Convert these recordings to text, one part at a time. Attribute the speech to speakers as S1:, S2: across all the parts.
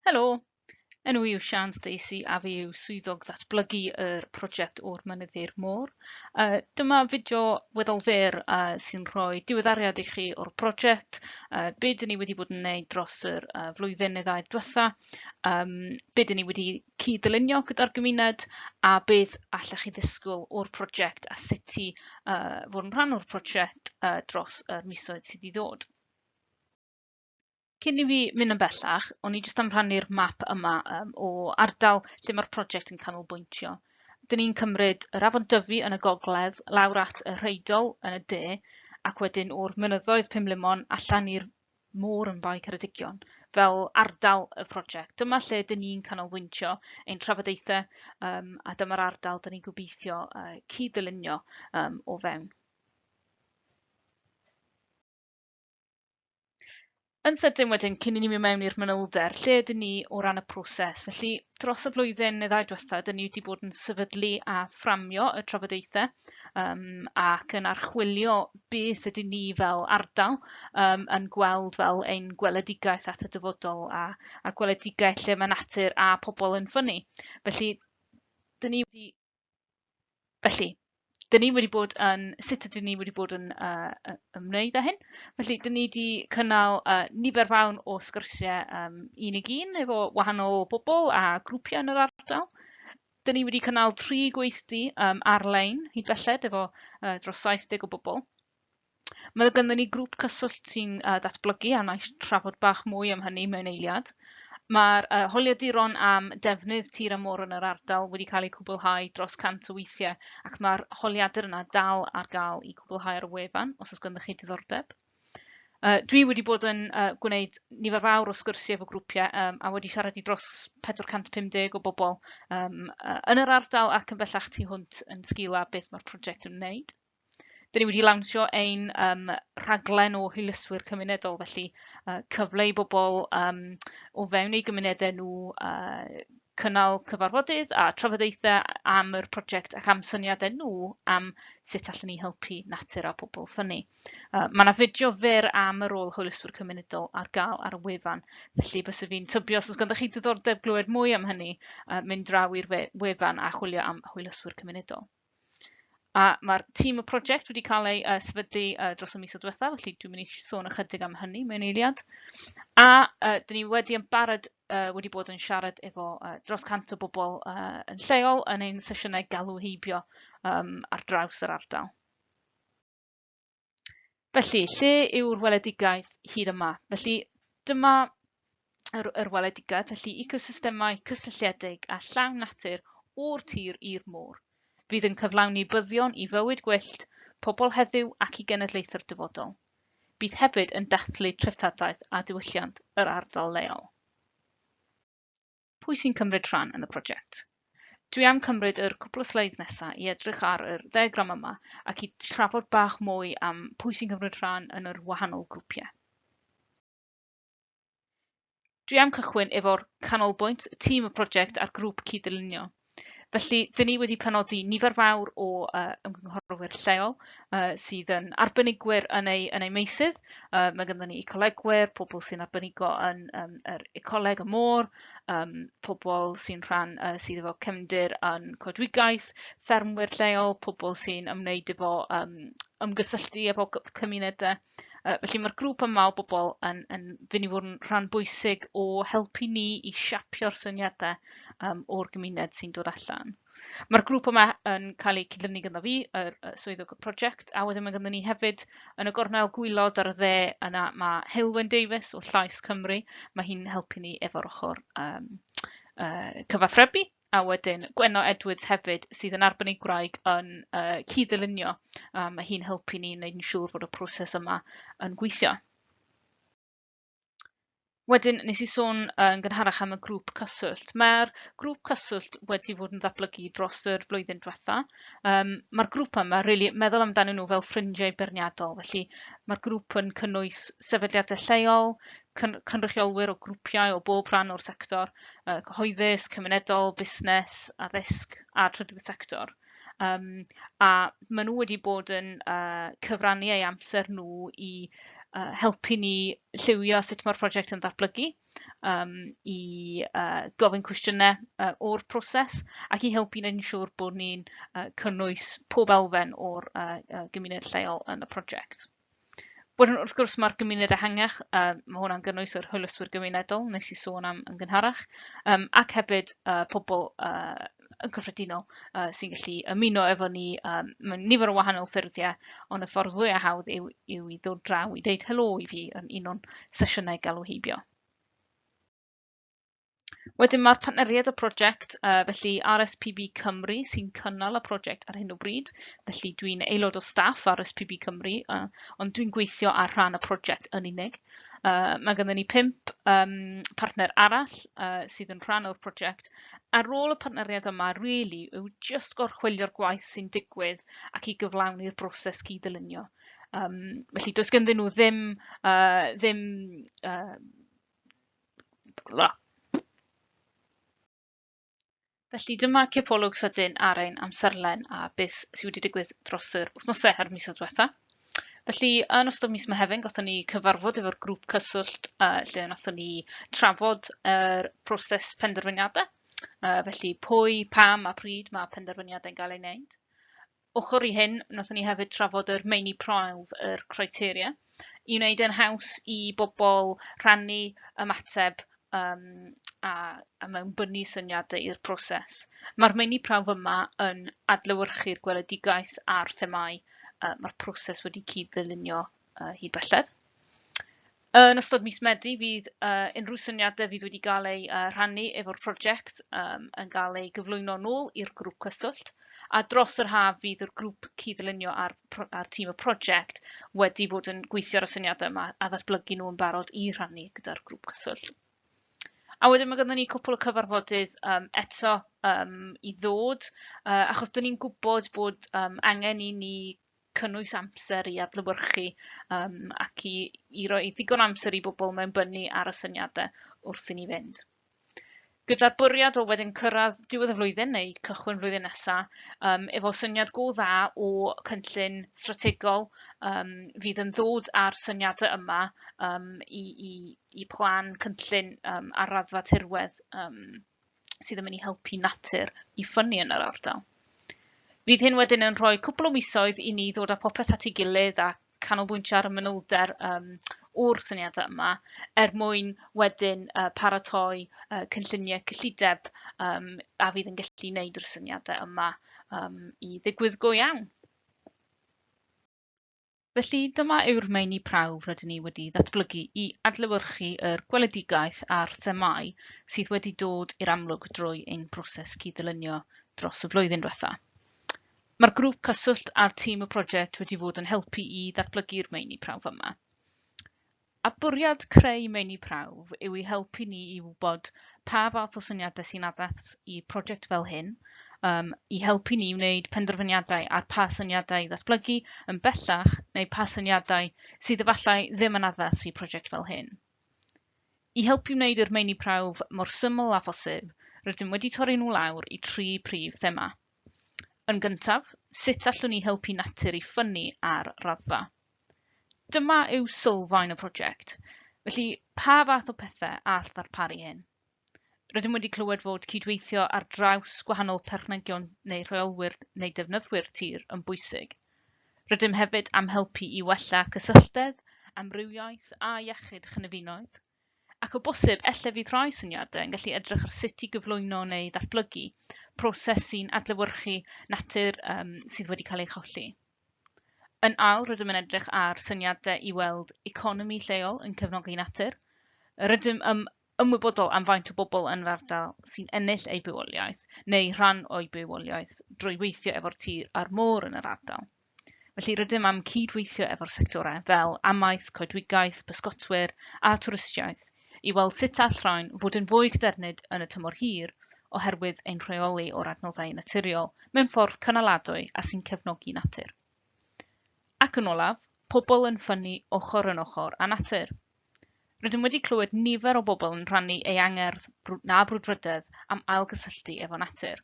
S1: Helo, enw i yw Sian Stacey a fi yw swyddog ddatblygu yr prosiect o'r mynydd i'r môr. Uh, dyma fideo weddol fer uh, sy'n rhoi diweddariad i chi o'r prosiect, uh, be dyn ni wedi bod yn neud dros yr uh, flwyddyn neu ddau diwetha, um, be dyn ni wedi cyd-dylunio gyda'r gymuned a beth allech chi ddisgwyl o'r prosiect a sut i uh, fod yn rhan o'r prosiect uh, dros yr misoedd sydd i ddod. Cyn i fi mynd yn bellach, o'n i jyst am rhannu'r map yma um, o ardal lle mae'r prosiect yn canolbwyntio. Dyn ni'n cymryd yr afon Dyfi yn y gogledd, lawr at y rheidol yn y de, ac wedyn o'r mynyddoedd Pumlumon allan i'r môr yn Fae Ceredigion, fel ardal y prosiect. Dyma lle dyn ni'n canolbwyntio ein trafodaethau um, a dyma'r ardal dyn ni'n gobeithio uh, cyd-ddylunio um, o fewn. Yn sydyn wedyn, cyn i ni mynd mewn i'r manylder, lle ydyn ni o ran y proses? Felly, dros y flwyddyn neu ddau diwetha, ydyn ni wedi bod yn sefydlu a fframio y trafodaethau um, ac yn archwilio beth ydyn ni fel ardal um, yn gweld fel ein gweledigaeth at y dyfodol a, a gweledigaeth lle mae natur a pobl yn ffynnu. Felly, dyn ni wedi Felly, dyn ni wedi bod yn, sut ydyn ni wedi bod yn uh, ymwneud â hyn? Felly, dyn ni wedi cynnal uh, nifer fawn o sgyrsiau um, un i un efo wahanol bobl a grwpiau yn yr ardal. Dyn ni wedi cynnal tri gweithdy um, ar-lein hyd belled efo uh, dros 70 o bobl. Mae gynddyn ni grŵp cyswllt sy'n uh, datblygu a wnaeth trafod bach mwy am hynny mewn eiliad. Mae'r uh, holiaduron am defnydd tir a môr yn yr ardal wedi cael eu cwblhau dros 100 o weithiau ac mae'r holiadur yna dal ar gael i gwblhau ar y wefan os oes ganddo chi diddordeb. Uh, dwi wedi bod yn uh, gwneud nifer fawr o sgyrsiau efo grwpiau um, a wedi siarad i dros 450 o bobl um, uh, yn yr ardal ac yn bellach tu hwnt yn sgil a beth mae'r prosiect yn wneud. Dyn ni wedi lawnsio ein um, rhaglen o hwyluswyr cymunedol, felly uh, cyfle i bobl um, o fewn eu gymunedau nhw uh, cynnal cyfarfodydd a trafodaethau am yr prosiect ac am syniadau nhw am sut allan ni helpu natur a pobl ffynnu. Uh, mae yna fideo fer am y rôl hwyluswyr cymunedol ar gael ar y wefan, felly bys y fi'n tybio os oes ganddo chi diddordeb glywed mwy am hynny, uh, mynd draw i'r wefan a chwilio am hwyluswyr cymunedol. A mae'r tîm y prosiect wedi cael ei uh, sefydlu uh, dros y mis o diwetha, felly dwi'n mynd i sôn ychydig am hynny mewn eiliad. A uh, dyn ni wedi yn barod uh, wedi bod yn siarad efo uh, dros cant o bobl uh, yn lleol yn ein sesiynau galw heibio um, ar draws yr ardal. Felly, lle yw'r weledigaeth hir yma? Felly, dyma yr, yr weledigaeth, felly ecosystemau cysylltiedig a llawn natur o'r tir i'r môr. Fydd yn cyflawni byddion i fywyd gwyllt, pobl heddiw ac i genedlaethau'r dyfodol. Bydd hefyd yn dathlu treftadaeth a diwylliant yr ardal leol. Pwy sy'n cymryd rhan yn y prosiect? Dwi am cymryd yr cwpl o sleids nesa i edrych ar yr ddiagram yma ac i trafod bach mwy am pwy sy'n cymryd rhan yn yr wahanol grwpiau. Dwi am cychwyn efo'r canolbwynt, tîm y prosiect a'r grŵp cyd-ddylunio. Felly, dyn ni wedi penodi nifer fawr o uh, ymgynghorwyr lleol uh, sydd yn arbenigwyr yn eu, yn eu meisydd. Uh, mae ganddo ni ecolegwyr, pobl sy'n arbenigo yn um, yr ecoleg y môr, um, pobl sy'n rhan uh, sydd efo cefndir yn coedwigaeth, ffermwyr lleol, pobl sy'n ymwneud efo um, ymgysylltu efo cymunedau. Yy felly mae'r grŵp yma o bobl yn yn fyn' i fod yn rhan bwysig o helpu ni i siapio'r syniadau um, o'r gymuned sy'n dod allan. Mae'r grŵp yma yn cael eu cydlynu gyda fi, yr yy swyddog y prosiect, a wedyn mae gyda ni hefyd yn y gornel gwylod ar y dde yna mae Heulwen Davies o Llais Cymru, mae hi'n helpu ni efo'r ochr um, uh, cyfathrebu a wedyn Gwenno Edwards hefyd sydd yn arbenigwraig yn uh, cyd-ddylunio. Uh, mae hi'n helpu ni wneud yn siŵr fod y proses yma yn gweithio. Wedyn, nes i sôn yn gynharach am y grŵp cyswllt. Mae'r grŵp cyswllt wedi fod yn ddatblygu dros yr flwyddyn diwetha. Um, mae'r grŵp yma, really, meddwl amdanyn nhw fel ffrindiau beirniadol. Felly, mae'r grŵp yn cynnwys sefydliadau lleol, cyn cynrychiolwyr o grwpiau o bob rhan o'r sector, uh, cyhoeddus, cymunedol, busnes, addysg a trydydd sector. Um, a maen nhw wedi bod yn uh, cyfrannu ei amser nhw i uh, helpu ni lliwio sut mae'r prosiect yn ddatblygu, um, i uh, gofyn cwestiynau uh, o'r proses ac i helpu ni'n siŵr bod ni'n uh, cynnwys pob elfen o'r uh, uh, gymuned lleol yn y prosiect. Wedyn, wrth gwrs, mae'r gymuned ehangach, uh, mae hwnna'n gynnwys yr hwylyswyr gymunedol, nes i sôn am yn gynharach, um, ac hefyd uh, pobl uh, yn cyffredinol uh, sy'n gallu ymuno efo ni um, mewn nifer o wahanol ffurfiau, ond y ffordd fwy a hawdd yw, yw i ddod draw i ddeud helo i fi yn un o'n sesiynau galw heibio. Wedyn mae'r partneriaid y prosiect, uh, felly RSPB Cymru sy'n cynnal y prosiect ar hyn o bryd, felly dwi'n aelod o staff RSPB Cymru, uh, ond dwi'n gweithio ar rhan y prosiect yn unig. Uh, mae gennym ni pimp um, partner arall uh, sydd yn rhan o'r prosiect, a rôl y partneriaid yma rili really, yw just gorchwilio'r gwaith sy'n digwydd ac i gyflawni'r broses cyd-dylunio. Um, felly, does genddyn nhw ddim, uh, ddim uh, Bwla. Felly dyma cipolwg sydyn ar ein amserlen a beth sydd wedi digwydd dros yr wythnosau a'r misoedd diwetha. Felly, yn ystod mis Mehefin, gothon ni cyfarfod efo'r grŵp cyswllt uh, lle wnaethon ni trafod yr er proses penderfyniadau. Uh, felly, pwy, pam a pryd mae penderfyniadau'n gael ei wneud. Ochr i hyn, wnaethon ni hefyd trafod yr meini prawf, yr criteria, i wneud e'n haws i bobl rhannu ymateb um, a, a mewn bynnu syniadau i'r proses. Mae'r meini prawf yma yn adlewyrchu'r gweledigaeth a'r themau uh, mae'r proses wedi cyd-ddylunio uh, hyd belled. Yn ystod mis Medi fydd uh, unrhyw syniadau fydd wedi cael ei uh, rhannu efo'r prosiect um, yn cael ei gyflwyno nôl i'r grŵp cyswllt a dros yr haf fydd yr grŵp cydlunio a'r, ar tîm y prosiect wedi bod yn gweithio ar y syniadau yma a ddatblygu nhw yn barod i rhannu gyda'r grŵp cyswllt. A wedyn mae gyda ni cwpl o cyfarfodydd um, eto um, i ddod, uh, achos dyn ni'n gwybod bod um, angen i ni cynnwys amser i adlewyrchu um, ac i, i roi ddigon amser i bobl mewn bynnu ar y syniadau wrth i ni fynd. Gyda'r bwriad o wedyn cyrraedd diwedd y flwyddyn neu cychwyn flwyddyn nesaf, um, efo syniad go dda o cynllun strategol um, fydd yn ddod â'r syniadau yma um, i, i, i plan cynllun um, ar raddfa tirwedd um, sydd yn mynd i helpu natur i ffynnu yn yr ardal. Fydd hyn wedyn yn rhoi cwpl o misoedd i ni ddod â popeth at ei gilydd a canolbwyntio ar y manylder um, o'r syniadau yma er mwyn wedyn uh, paratoi uh, cynlluniau cyllideb um, a fydd yn gallu wneud yr syniadau yma um, i ddigwydd go iawn. Felly, dyma yw'r meini prawf rydyn ni wedi ddatblygu i adlewyrchu yr gweledigaeth a'r themau sydd wedi dod i'r amlwg drwy ein broses cyd-ddylunio dros y flwyddyn diwetha. Mae'r grŵp cyswllt a'r tîm y prosiect wedi fod yn helpu i ddatblygu'r meini prawf yma. A bwriad creu meini prawf yw i helpu ni i wybod pa fath o syniadau sy'n addas i prosiect fel hyn, um, i helpu ni i wneud penderfyniadau ar pa syniadau i ddatblygu yn bellach neu pa syniadau sydd efallai ddim yn addas i prosiect fel hyn. I helpu wneud i'r meini prawf mor syml â phosib, rydym wedi torri nhw lawr i tri prif thema. Yn gyntaf, sut allwn ni helpu natur i ffynnu ar raddfa? Dyma yw sylfaen y prosiect. Felly, pa fath o pethau all ddarparu hyn? Rydym wedi clywed fod cydweithio ar draws gwahanol perchnegion neu rheolwyr neu defnyddwyr tir yn bwysig. Rydym hefyd am helpu i wella cysylltedd, amrywiaeth a iechyd chynefinoedd. Ac o bosib, elle fydd rhai syniadau yn gallu edrych ar sut i gyflwyno neu ddatblygu proses sy'n adlewyrchu natur um, sydd wedi cael ei cholli. Yn ail, rydym yn edrych ar syniadau i weld economi lleol yn cefnogi natur. Rydym yn ymwybodol am faint o bobl yn yr ardal sy'n ennill eu bywoliaeth, neu rhan o'u bywoliaeth, drwy weithio efo'r tir a'r môr yn yr ardal. Felly, rydym am cyd-weithio efo'r sectorau fel amaeth, coedwigaeth, pysgotwyr a twristiaeth i weld sut all rhain fod yn fwy cadernid yn y tymor hir oherwydd ein rheoli o'r adnoddau naturiol mewn ffordd cynaladwy a sy'n cefnogi natur. Ac yn olaf, pobl yn ffynnu ochr yn ochr â natur. Rydym wedi clywed nifer o bobl yn rhannu ei angerdd na brwdfrydedd am ailgysylltu efo natur.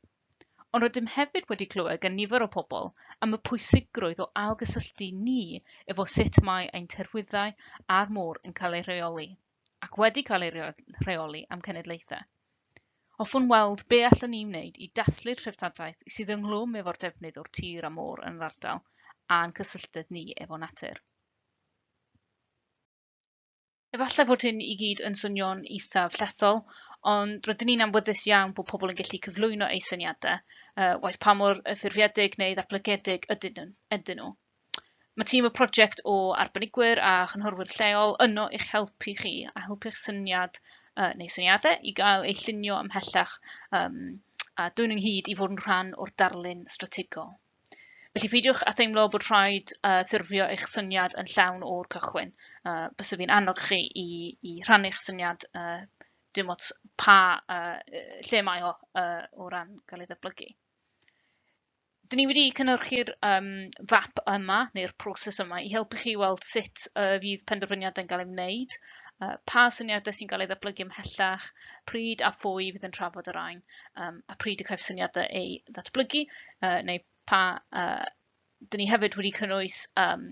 S1: Ond rydym hefyd wedi clywed gan nifer o pobl am y pwysigrwydd o ailgysylltu ni efo sut mae ein terwyddau a'r môr yn cael ei rheoli. ac wedi cael ei rheoli am cenedlaethau. Hoffwn weld be allan ni wneud i dathlu'r treftadaeth sydd ynghlwm efo'r defnydd o'r tir a môr yn yr ardal a'n cysylltedd ni efo natur. Efallai fod hyn i gyd yn swnio'n eithaf llethol, ond rydyn ni'n amwyddus iawn bod pobl yn gallu cyflwyno eu syniadau, uh, waith pa mor ffurfiedig neu ddatblygedig ydyn nhw. Mae tîm y prosiect o arbenigwyr a chynghorwyr lleol yno i'ch helpu chi a helpu'ch syniad uh, neu syniadau i gael eu llunio ymhellach um, a dwyn ynghyd i fod yn rhan o'r darlun strategol. Felly peidiwch a theimlo bod rhaid uh, ffurfio eich syniad yn llawn o'r cychwyn. Uh, bys fi'n annog chi i, i rhannu'ch syniad uh, dim ots pa uh, lle mae o uh, o ran cael ei ddeblygu. Dyn ni wedi cynhyrchu'r um, fap yma, neu'r proses yma, i helpu chi weld sut uh, fydd penderfyniadau'n cael ei wneud, uh, pa syniadau sy'n cael ei ddatblygu ymhellach, pryd a phwy fydd yn trafod yr ein, um, a pryd y caiff syniadau ei ddatblygu, uh, neu pa... Uh, dyn ni hefyd wedi cynnwys um,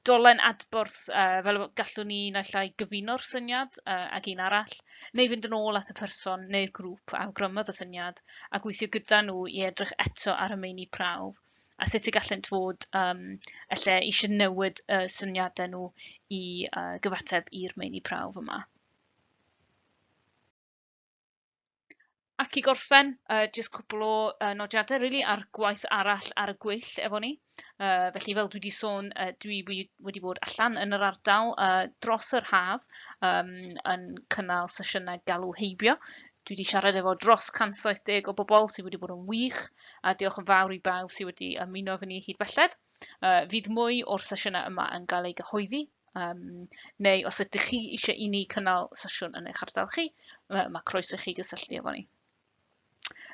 S1: dolen adborth uh, fel gallwn ni naill ai gyfuno'r syniad uh, ag un arall, neu fynd yn ôl at y person neu'r grŵp a awgrymodd y syniad a gweithio gyda nhw i edrych eto ar y meini prawf a sut y gallent fod um, lle eisiau newid y uh, syniadau nhw i uh, gyfateb i'r meini prawf yma. Ac i gorffen, uh, jyst cwbl o uh, nodiadau really ar gwaith arall ar y gwyll efo ni. Uh, felly fel dwi wedi sôn, uh, dwi wedi bod allan yn yr ardal uh, dros yr haf um, yn cynnal sesiynau galw heibio. Dwi wedi siarad efo dros 170 o bobl sydd wedi bod yn wych a diolch yn fawr i bawb sydd wedi ymuno efo ni hyd belled. Uh, fydd mwy o'r sesiynau yma yn cael ei gyhoeddi Um, neu os ydych chi eisiau i ni cynnal sesiwn yn eich ardal chi, mae croeso i chi gysylltu efo ni.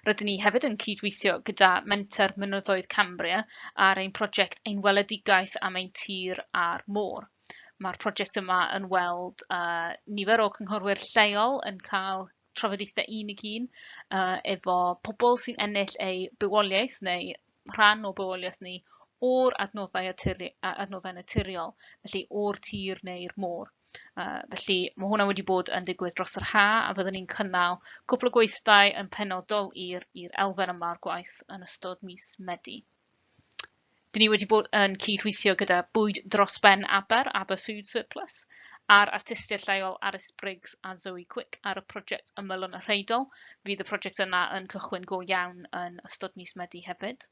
S1: Rydyn ni hefyd yn cydweithio gyda Menter Mynyddoedd Cambria ar ein prosiect Ein Weledigaeth am ein Tir a'r Môr. Mae'r prosiect yma yn weld uh, nifer o cynghorwyr lleol yn cael trafodaethau un i un uh, efo pobl sy'n ennill eu bywoliaeth neu rhan o bywoliaeth ni o'r adnoddau, aturi, adnoddau naturiol, felly o'r tir neu'r môr. Uh, felly mae hwnna wedi bod yn digwydd dros yr ha a fyddwn ni'n cynnal cwpl o gweithdai yn penodol i'r elfen yma o'r gwaith yn ystod mis Medi. Dyn ni wedi bod yn cydweithio gyda Bwyd Dros Ben Aber, Aber Food Surplus, a'r artistiaid lleol Arys Briggs a Zoe Quick ar y prosiect Ymylon y Rheidol. Fydd y prosiect yna yn cychwyn go iawn yn ystod mis Medi hefyd.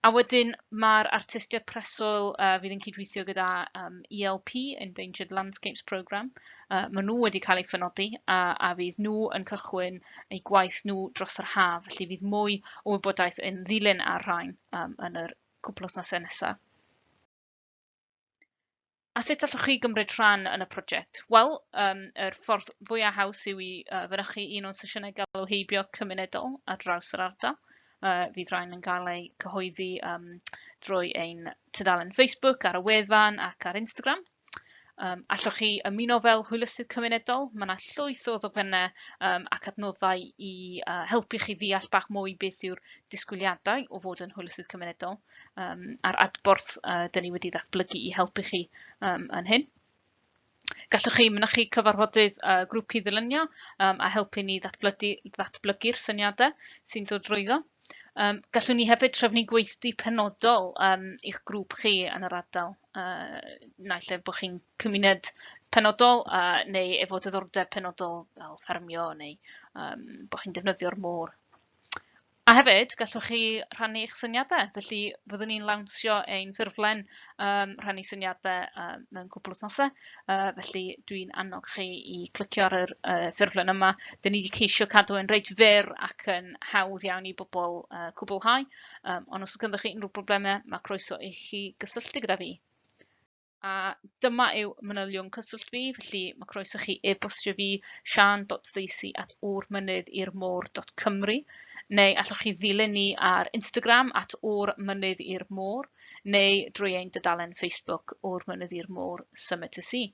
S1: A wedyn mae'r artistiaid preswyl uh, fydd yn cydweithio gyda um, ELP, Endangered Landscapes Programme. Uh, maen nhw wedi cael eu ffynodi uh, a fydd nhw yn cychwyn eu gwaith nhw dros yr haf, felly fydd mwy o wybodaeth yn ddilyn ar rhain um, yn yr cwpl wythnosau nesaf. A sut allwch chi gymryd rhan yn y prosiect? Wel, um, yr ffordd fwyaf haws yw i uh, fynychu un o'n sesiynau galw heibio cymunedol ar draws yr ardal. Uh, fydd rhain yn cael eu cyhoeddi um, drwy ein tudalen Facebook, ar y wefan ac ar Instagram. Um, allwch chi ymuno fel hwylysydd cymunedol, mae yna llwyth o ddogfennau um, ac adnoddau i uh, helpu chi ddeall bach mwy beth yw'r disgwyliadau o fod yn hwylysydd cymunedol um, a'r adborth uh, dyn ni wedi ddatblygu i helpu chi um, yn hyn. Gallwch chi mynychu cyfarfodydd uh, grŵp cyd-ddylunio um, a helpu ni ddatblygu'r syniadau sy'n dod drwyddo. Um, gallwn ni hefyd trefnu gweithdy penodol um, i'ch grŵp chi yn yr ardal, uh, naill lle bod chi'n cymuned penodol uh, neu efo diddordeb penodol fel ffermio neu um, bod chi'n defnyddio'r môr. A hefyd, gallwch chi rhannu eich syniadau, felly fyddwn ni'n lawnsio ein ffurflen um, rhannu syniadau um, mewn cwpl wythnosau, uh, felly dwi'n annog chi i clicio ar y uh, ffurflen yma. Dyn ni wedi ceisio cadw yn reit fyr ac yn hawdd iawn i bobl uh, cwblhau, um, ond os ydych chi unrhyw broblemau, mae croeso i chi gysylltu gyda fi. a dyma yw manylion cyswllt fi, felly mae croeso chi e-bostio fi sian.stacey at ŵrmynydd i'r môr.cymru neu allwch chi ddilyn ni ar Instagram at o'r mynydd i'r môr neu drwy ein dydalen Facebook o'r mynydd i'r môr Summit y Sea.